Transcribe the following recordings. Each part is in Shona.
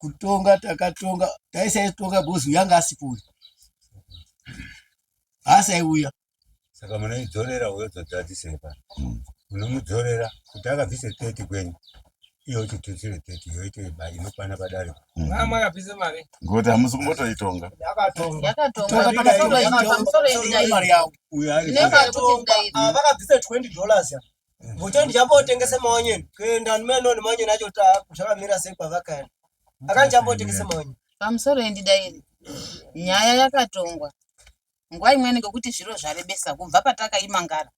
kutonga takatonga taisaitonga bhozi uyanga asipo uyu haasaiuya saka munoidzorera uyo dzodzadzisei pano unomudzorera kuti akabvise teti kwenyu iyo chitutsire teti yoite inokwana padare ngokuti hamusi kumbotoitonga uyo ari vakabvisa 20 dollars Mucho ndichambootengese maonyeni. Kuenda nimeno nemaonyeni acho kuti zvakamira sei kwavakaenda. Akani chambootengese maonyeni. Pamusoro yendidairi. Nyaya yakatongwa. Nguva imweni ngekuti zviro zvarebesa kubva patakaimangara.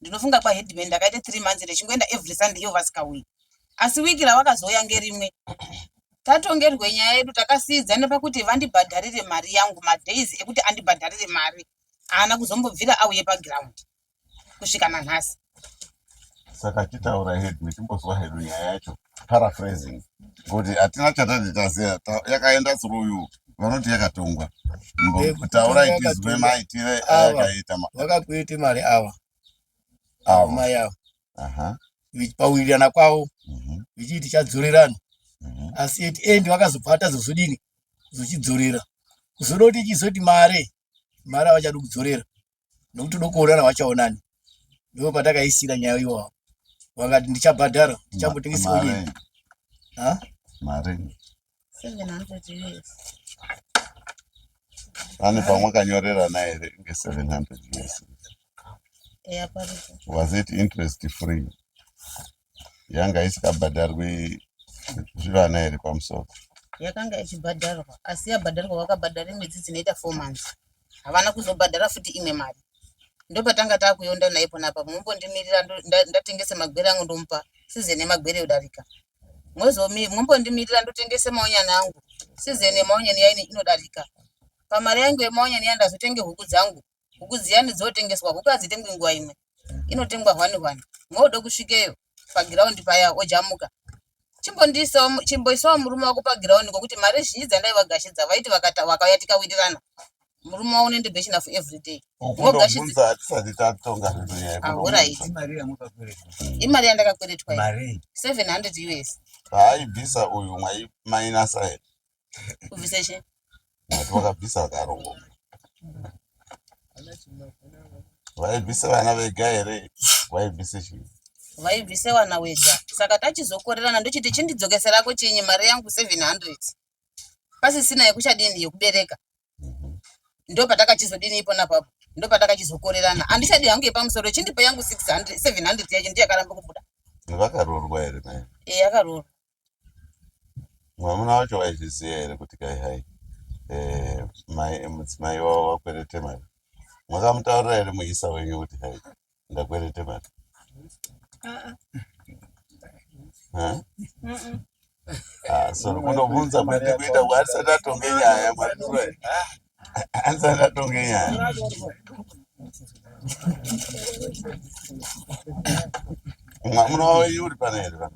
Ndinofunga kwa headman ndakaita 3 months ndichingoenda every Sunday iyo vasikauyi. Asi wiki rawakazouya ngerimwe. Tatongerwe nyaya yedu takasiidzana pakuti vandibhadharire mari yangu madays ekuti andibhadharire mari. Haana kuzombobvira auye paground. kusvika nanhasi saka titaura hedu timbozwa hedu nyaya yacho paraphrasing kuti hatina chatati taziva yakaenda through you vanoti yakatongwa taura itizwe maitire ayakaita vakakuiti mari ava avo mai avo pawirirana kwavo mhm. vichiti chadzorerana mhm. asi at end vakazobva atazozodini zochidzorera kuzoda kuti chizoti mari mari avachadi kudzorera nokuti dokuonana wachaonani ndipo patakaisira nyaya iwawo vakati ndichabhadhara ndichambotengesawo nyaya mari ane pamwe akanyorerana here nge-seven hundred years was it interest free yanga isikabhadharwi zvivana here pamusoro yakanga ichibhadharwa asi yabhadharwa vakabhadhara mwedzi dzinoita four months havana kuzobhadhara futi imwe mari ndopatanga takuyonda naye pona apa mumbondimirira ndatengese magwere angu ndomupa sizeni yemagwere yodarika mwezomi mumbondimirira ndotengese maonyani angu sizeni yemaonyani yaine inodarika pamari yangu yemaonyani yandazotenge huku dzangu huku dziyani dzotengeswa huku hadzitengwi nguva imwe inotengwa hwani hwani mwoda kusvikeyo pagiraundi paya ojamuka chimboisawo murume wako pagiraundi ngokuti mari zhinji dzandaivagashidza vaiti vakauya tikawirirana murume wavo unoende bechina for everyday ogashiaorit imari yandakakweretwa 700 us haaibvisa uyu mainasa Kubvisa chii? Vati vakabvisa vakarongo. Vaibvisa vana vega here? Vaibvisa chii? Vaibvisa vana wega. Saka tachizokorerana ndochiti chindidzokeserako chinyi mari yangu 700. Pasisina yekuchadini yekubereka. Mhm. Ndo patakachizodini ipona papo. Ndo patakachizokorerana. Handichadi hangu yepamusoro chindipa yangu 600 700 yacho ndiyo yakaramba kubuda. Vakaroorwa here naye? Eh, yakaroorwa. Mwamuna wacho waizviziva here kuti kai hai eh, mai mudzimai wavo wakwerete mari? Mwakamutaurira here muisa wenyu kuti hai ndakwerete mari? Huh? Ah, so kunobvunza kwete kuita kuti asati atonge nyaya mwari turai. Asati atonge nyaya. Mwamuna wavo uri pana here pana?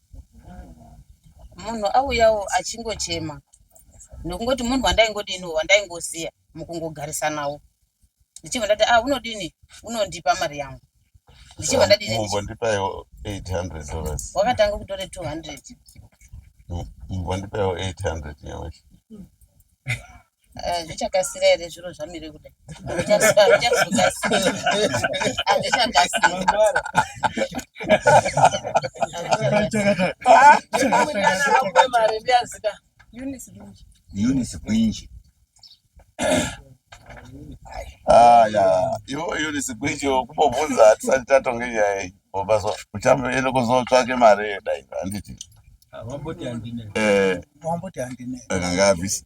munhu auyawo achingochema nokungoti munhu wandaingodiniwo wandaingoziya mukungogarisanawo ndichibva ndati ah unodini unondipa mari yangu ndichibva ndadinimbondipaiwo 800 dollars wakatanga kutore 200 mbondipaiwo 800 nyamashi Eh, zvichakasira here zviro zvamire kudai unisi kwinji aya ivo unisi kwinji kumbobvunza hatisati tatonge nyaya iyi obaso uchamboende kuzotsvake mari yedai handiti eh. akanga abvisa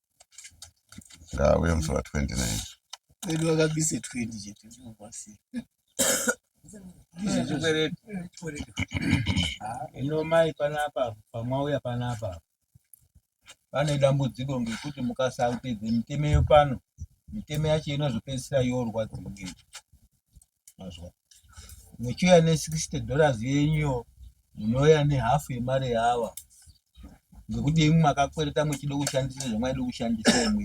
ngauye musi wa 29 kwedu vakabise 20 chete ndovasi ino mai panapa pamwauya panapa pane dambudziko ngekuti mukasapedze mitemeyo pano mitemo yacho inozopedzisira yorwadziwa ngecho mazwa muchiuya ne 60 dollars yenyu munouya ne half yemari yawa ngekuti imwe makakwereta muchida kushandisa zvamaida kushandisa imwe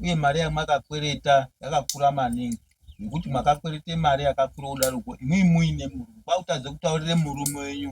uye mari yamakakwereta yakakura maningi nekuti makakwereta mari yakakura kudaroko imwe muine murume kwakutadza kutaurira murume wenyu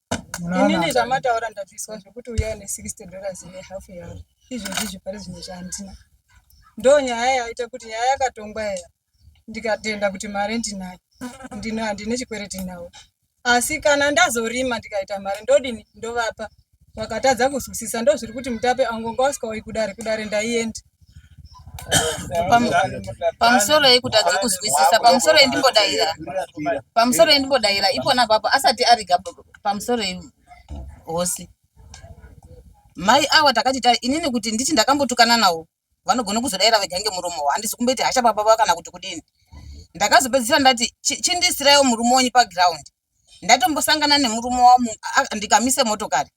inini zvamataura ndabviswa zvekuti uyai ne 60 dollars ne half yawo izvezvi zvipari zvimwe zvahandina ndo nyaya yaita kuti nyaya yakatongwa yaya ndikatenda kuti mari ndinayo ndino handine chikwereti nawo asi kana ndazorima ndikaita mari ndodini ndovapa vakatadza kuzwisisa ndozviri kuti mutape angonga usikauyi kudare kudare ndaienda pamusoro yekutadza kuzwisisa pamusoro yendimbodaira pamusoro yendimbodaira ipona papo asati ariga pamusoro yehosi mai awa takati ta inini kuti nditi ndakambotukana nawo vanogona kuzodaira vega ngemuromo wa handisi kumboiti hasha baba va kana kuti kudini ndakazopedzisira ndati chindisirawo murume wenyu paground ndatombosangana nemurume wamu ndikamise motokari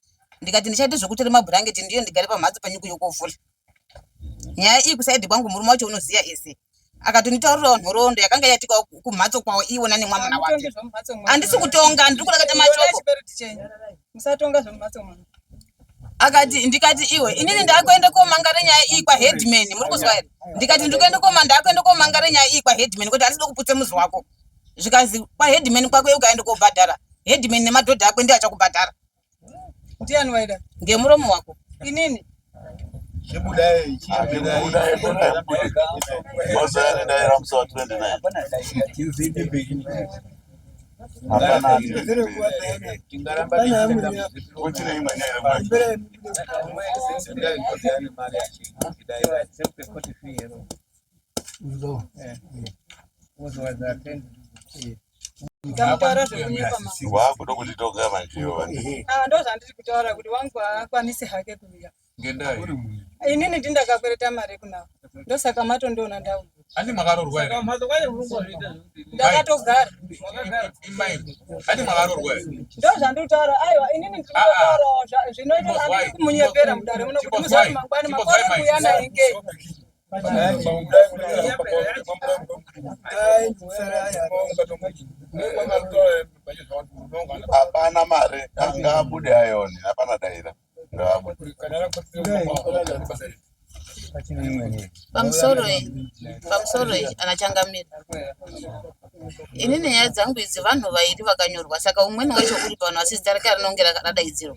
ndikati ndichaita zvekutora mabhurangeti ndiyo ndigare pamhatso panyuku yokovhura nyaya iyi kusaidi kwangu murume wacho unoziva ese akatonitaurirawo nhoroondo yakanga yatikawo kumhatso kwawo iwona nemwamuna wake handisi kutonga ndiri kurakata mashoko akati ndikati iwe inini ndakuenda komangara nyaya iyi kwaheadman muri kuzwa here ndikati ndikuenda koma ndakuenda komangara nyaya iyi kwaheadman kuti handisi dokuputse muzi wako zvikanzi kwaheadman kwako ukaenda kobhadhara headman nemadhodha akwe ndiye achakubhadhara ndiani waida ngemuromo wako inini wakuda kunditoga manjiyo ndozvandiri kutaura kuti wangu haakwanisi hake kuuya ngendai inini ndindakakwereta mari kunavo ndosaka matondiona ndau hati makarorwa here ndakatogara hati makarorwa here ndo zvanditaura aiwa inini ndinotaurawo zvinoita andiri kumunyepera mudare muno kuti muzati mangwani makore kuya nainge hapana mari angabude ayoni hapana daira pamusoro pamusoro anachangamira ini nenyaya dzangu idzi vanhu vairi vakanyorwa saka umweni wacho uri pano asi zita rake rinonge radaidzirwa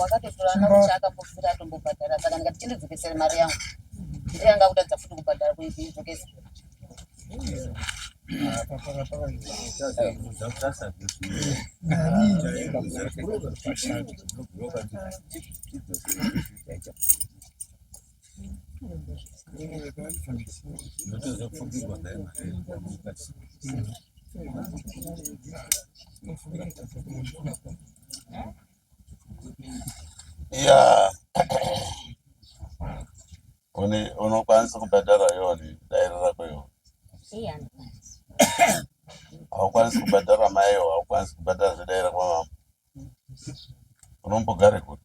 wakatotora mari chaakambobvira atombobhadhara saka ndikati chindidzokesere mari yangu ndiyanga kutadza futi kubhadhara kuidzokesa Yeah. Uni unokwanisa kubhadhara yoni dairo rako yo. Haukwanisi kubhadhara maiyo, haukwanisi kubhadhara zvedaira kwamama. Unombogare kuti.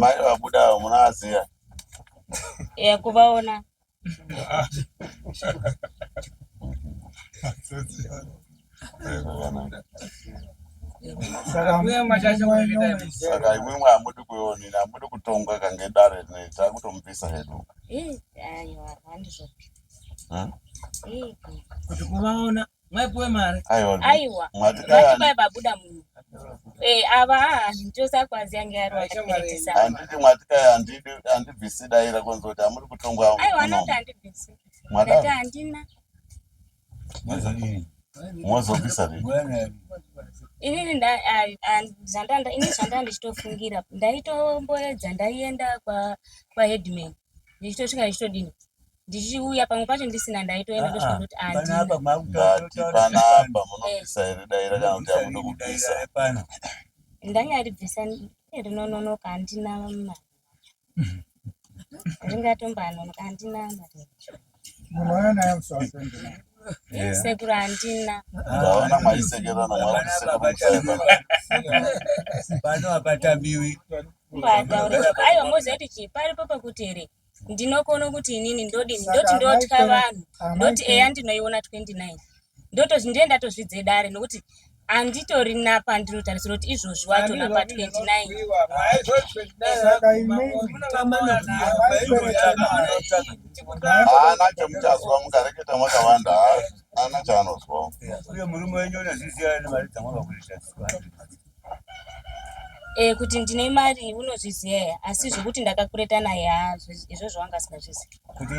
Mai vabuda avo munovaziva? Eya kuvaona. Saka imwimwe hamudi kuonina, hamudi kutongwa kange dare rinei, takutomupisa hedu. Eh, ayo handizvo. Kuti kuvaona. maipuwe mari aiwa matikai babuda munhu eh, ava ndiosa kwazi yange ariwaanditi matikai handibvisi daira kunzi kuti hamuri kutongwa aiwa anoti handibvisi ndati handina mozobvisa inini zvandanda ini zvandanda ndichitofungira ndaitomboedza ndaienda kwaheadman kwa ndichitosvika ndichitodini ndichiuya pamwe pacho ndisina ndaitoenda ndosvika ndoti andinapanapa munobvisa here dai rakanoti amuda kubvisa ndanga aribvisa rinononoka handina mari ringatombaanonoka handina mari sekuru handina ndaona maisekerana pano hapatamiwi aiwa moziva kuti chii paripo pakuti here ndinokona kuti inini ndodini ndoti ndotya vanhu ndoti eya ndinoiona 29 ndiye ndatozvidze dare nokuti handitori napandinotarisira kuti izvozvi wacho napa 29haana chamuchazwa mukareketa makavanda haana chaanozwa uye murume wenyu unezviziva nemari dzamwakakuita Eh kuti ndine mari unozviziva here asi zvekuti ndakakwereta naye haa zvi- izvozvo wanga asingazvizivi kuti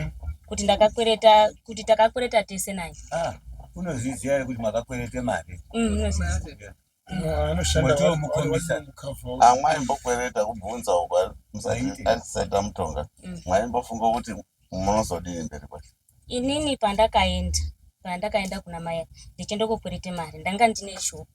kuti ndakakwereta kuti takakwereta tese naye ah, unozviziva here kuti makakwerete mari Mm, unozviziva anoshanda Moto wari- womukhombisa. wari mukava uyu. Ah, mwaimbokwereta kubvunza uko Zvaiti. atisaita mutonga Mm. mwaimbofunga kuti munozodini mberi kwacho inini pandakaenda pandakaenda kuna maya ndichindokokwerete mari ndanga ndine shop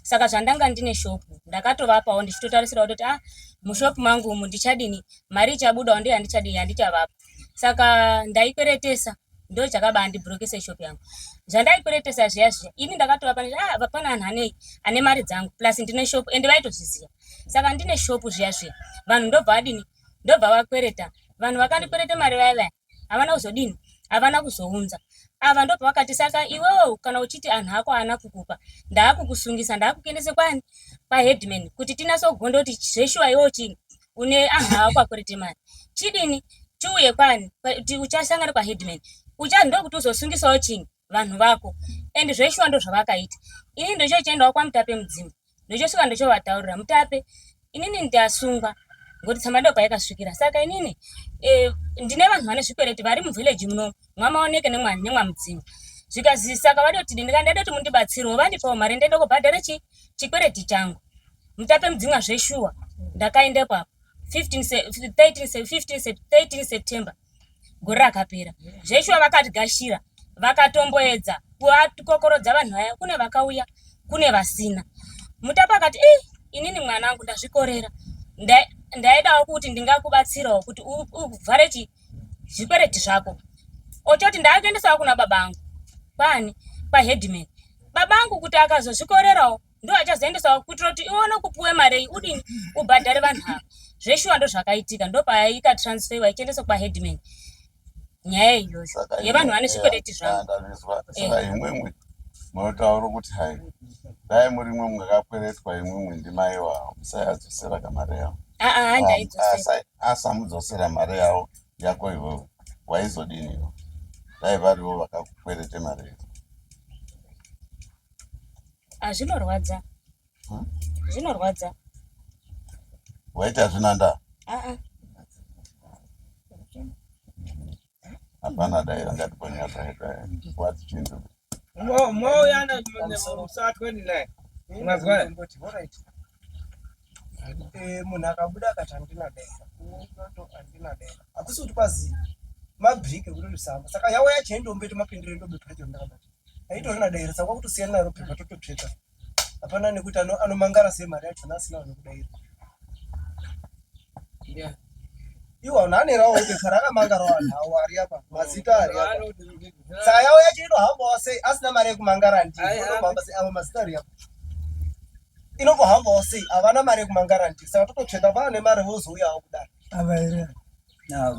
saka zvandanga ndine shop ndakatovapawo ndichitotarisirawo kuti ah mushop mangu umu ndichadini mari ichabudawo ndiye handichadini handichavapa saka ndaikweretesa ndo chakaba andibrokesa shop yangu zvandaikweretesa zviya zviya ini ndakatova pane ah vapana anhu anei ane mari dzangu plus ndine shop ende vaitozviziva saka ndine shop zviya zviya vanhu ndobva adini ndobva vakwereta vanhu vakandikwereta mari vaya vaya havana kuzodini havana kuzounza ava ndo pavakati saka iwewo kana uchiti anhu ako haana kukupa ndaakukusungisa ndaakukuendese kwani paheadman kuti tinasogonda kuti zveshuwa iwewo chini une anhu ako akurete mari chidini chiuye kwani kuti uchasangana kwaheadman ucha ndokuti uzosungisawo chini vanhu vako and zveshuwa ndo zvavakaita ini ndochochiendawo kwamutape mudzimba ndochosvika ndochovataurira mutape inini ndasungwa ngokuti tsamadopa yakasvikira saka inini e, ndine vanhu vane zvikwereti vari muvhileji muno mwamaoneke nemwamudzimba zvikazi saka vadoti dini ka ndadoti mundibatsirewo vandipawo mari ndende kubhadhara chi chikwereti changu mutape mudzimwa zveshuwa ndakaendepo apo 15 september gore rakapera zveshuwa vakatigashira vakatomboedza kuvatokokorodza vanhu vaya kune vakauya kune vasina mutapa akati e inini mwana wangu ndazvikorera ndaidawo kuti ndingakubatsirawo kuti uvhare chi zvikwereti zvako ochoti ndaakuendesawo kuna baba angu kwani kwaheadman baba angu kuti akazozvikorerawo ndiwo achazoendesawo kuitira kuti ione kupuwe marei udini ubhadhare vanhu ava zveshuwa ndo zvakaitika ndo payaika transferiwa ichiendesa kwaheadman nyaya iyoyo yevanhu vane zvikwereti zvavoimwimwi munotaura kuti hai dai muri mwe mwakakweretwa imwimwi ndimai wavo musayadzosera kamari yavo asamudzosera mari yavo yako ivovo waizodiniwo dai varivo vakakwerete mari yavo Azvinorwadza. Hmm? Zvinorwadza. Waiti hazvina ndaa? Aa. Hapana daira ngatiponya daira. Wati chindu. Mo mo yana musatwe naye. Unazwa? Eh munhu akabuda akati handina daira. Handina daira. Akusi kuti kwazi mabrike kuti lusamba. Saka yawo yacho ndombe tomapindire ndombe pacho ndakabata. aitoona dairisa kwakutosiyana naro pepa tototsveta hapana nekuti anomangara sei mari yachona asina vanokudaira iwo anhu anerawo bepa rakamangarawo anhu awo ari apa mazita ari apa tsayawo yacho inohambawo sei asina mari yekumangara ndiinohamba sei avo mazita ari apa inokuhambawo sei havana mari yekumangara ndi saka tototsveta vana nemari vozouyawo kudaro ava here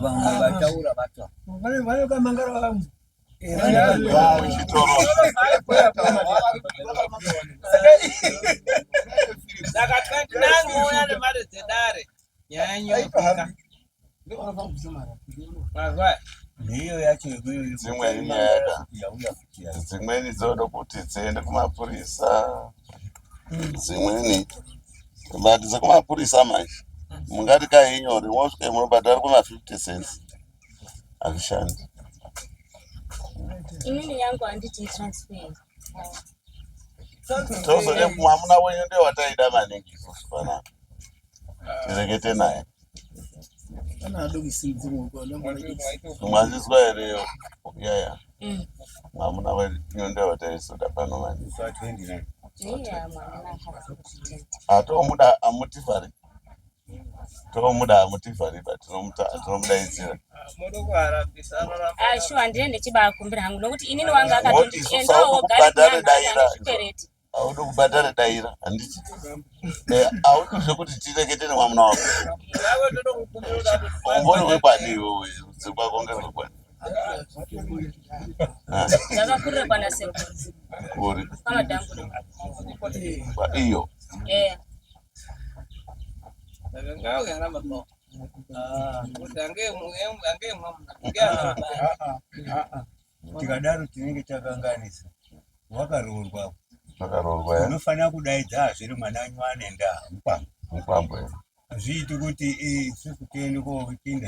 vamwe vataura vata vanokamangara vamwe dzimweni dzoda kuti dziende kumapurisa dzimweni but dzekumapurisa manje mungati kainyore mosvika munobhadhara kuma 50 cents hazvishandi inini yangu handiti transfer tozode mwamuna wenyu ndiye wataida maningi isusu panapa tirekete naye mwazvizwa here yaya mwamuna wenyu ndiye wataisoda pano maningi atomuda amuti fari tinomuda mutivhariba tinomudaidzira ah, shuwa ndine ndichibakumbira hangu nokuti inini wanga akatiendaogaikwereti audo kubhadhara daira handiti eh, audo zvekuti tirekete nemwamuna wako umbori wekwani iwewe rudzi kwako ngerwekwani zvakakurira kwana sekuri iyo eh. tikadaro tinenge takanganisa wakaroorwa wakaroorwa eh? unofanira kudaidza hazviri mwana wenyu anenda mupambo mupambo eh? hazviiti kuti isusu tiende koopinda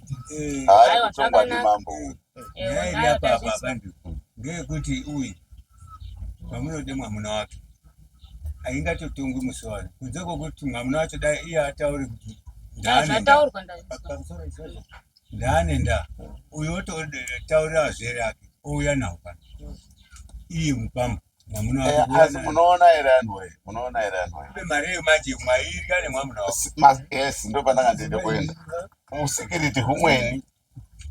Aiwa zvakanaka. Nyaya iri apa apa bandiko ngeyekuti uyu pamunode mwamuna wacho aingatotongwi musi wani kunze kwokuti mwamuna wacho dai iye ataure kuti ndaanendaa ndaanendaa uyu ototaurira azvere ake ouya nawo pano iye mupamba Eh, asi munoona here anhu wee munoona here anhu wees ndo pandanga ndiende kuenda usikiriti humweni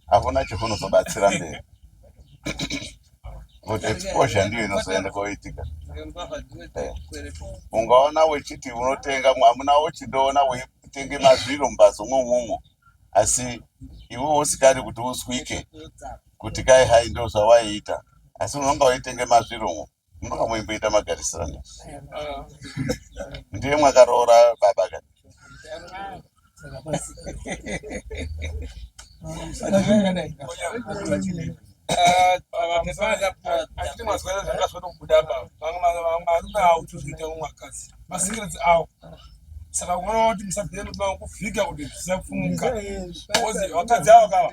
hakuna chihunozobatsira mberi but exposure ndiyo inozoenda koitika eh, ungaona wechiti unotenga hamuna wochindoona weitenge mazviro mumbatso mwoumwomwo asi iwe usikadi kuti uzwike kuti kai hai ndo zvawaiita asi unonga waitenge mazviromo munoka moimboita magarisirano ndiye mwakaroora baba ka saka unoona kuti musabhiyani kuvhika kuti zvisapfumuka vakadzi avo kava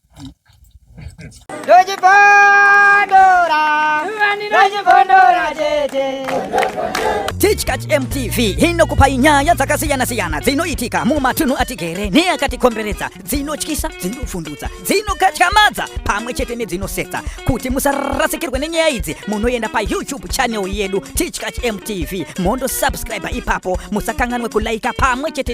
Tichkach MTV inokupa nyaya dzakasiyana siyana dzinoitika mumatunhu atigere neakatikomberedza dzinotyisa dzinofundudza dzinokatyamadza pamwe chete nedzinosetsa kuti musarasikirwe nenyaya idzi munoenda payoutube channel yedu Tichkach MTV mondo subscribe ipapo musakanganwe kulaika pamwe chete